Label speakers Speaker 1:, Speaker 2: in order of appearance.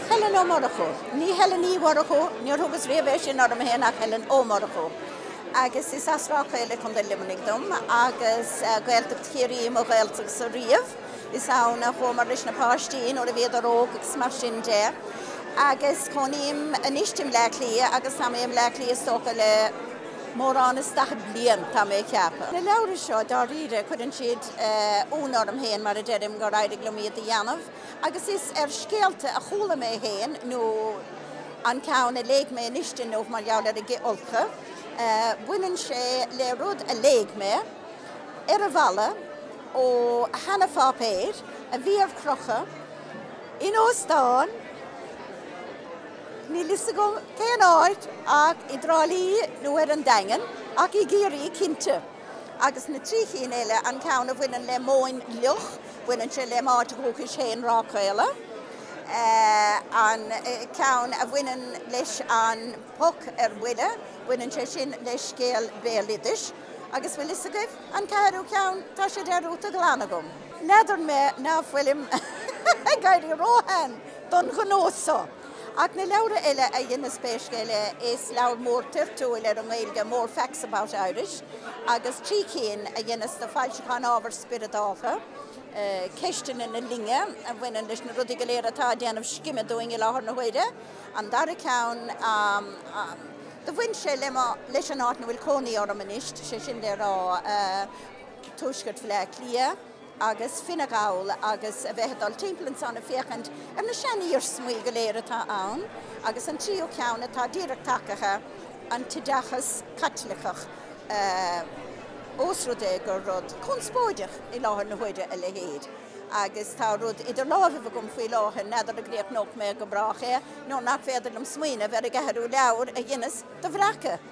Speaker 1: Helen Ó Murchú. Ní Helen Uí Mhurchú, níor thugas riamh é sin orm féin ach Helen Ó Murchú. Agus is as Ráth Caola i gContae Luimnigh dom agus Gaeltacht Chiarraí mo Ghaeltachtsa riamh. Is ann a chuamar leis na páistí nuair a bhíodar óg agus mar sin de. Agus cónaím anois i mBleá Cliath agus tá mé i mBleá Cliath is dócha le. mórán is daichead bliain, tá mé ag ceapadh. Na leabhra seo, dáiríre, cuireann siad ionadh orm féin mar a deirim gur éirigh liom iad a dhéanamh, agus is ar scéalta a chuala mé féin nó an ceann a léigh mé anois inniu mar gheall ar a gci olca. Baineann sé le rud a léigh mé, ar an bhfalla, ó sheanapháipéar a bhí ar crochadh in óstán. Níl fhios agam cén áit ach i dTrá Lí nó ar an Daingean, ach i gCiarraí cinnte. Agus na trí chinn eile, an ceann a bhaineann le Móin Fhliuch, baineann sé lem' áit dhúchais fhéin, Ráth Caola, an ceann a bhaineann leis an bPoc ar Buile, baineann sé sin le scéal béaloidis, agus bhfuil fhios agaibh, an ceathrú ceann, tá sé dearúdta glan agam. N'fheadar mé ná fuilim ag éirí róshean! don ghnó seo. Ach na leabhra eile a dheineas pé scéal é, is leabhar mór toirtiúil ar an nGaeilge More Facts About Irish agus trí cinn a dheineas do Foilseacháin Ábhair Spioradálta, Ceisteanna na Linne a bhaineann leis na rudaí go léir atá ag déanamh scime dúinn i láthair na huaire, an dara ceann do bhain sé leis an áit ina bhfuil cónaí orm anois, sé sin le rá, Tuaisceart Bhleá Cliath. agus Fine Gall agus a bheith ag dul timpeall ansan ag féachaint ar na sean-iarsmaí go léir atá ann agus an tríú ceann atá díreach tagaithe, an t-oideachas Caitliceach, ós rud é gur rud conspóideach i láthair na huaire a leithéid agus tá rud idir lámhaibh agam faoi láthair, n'fheadar an gcríochnóidh mé go brách é nuair nach féidir liom smaoineamh ar an gceathrú leabhar a dheineas do bhreacadh.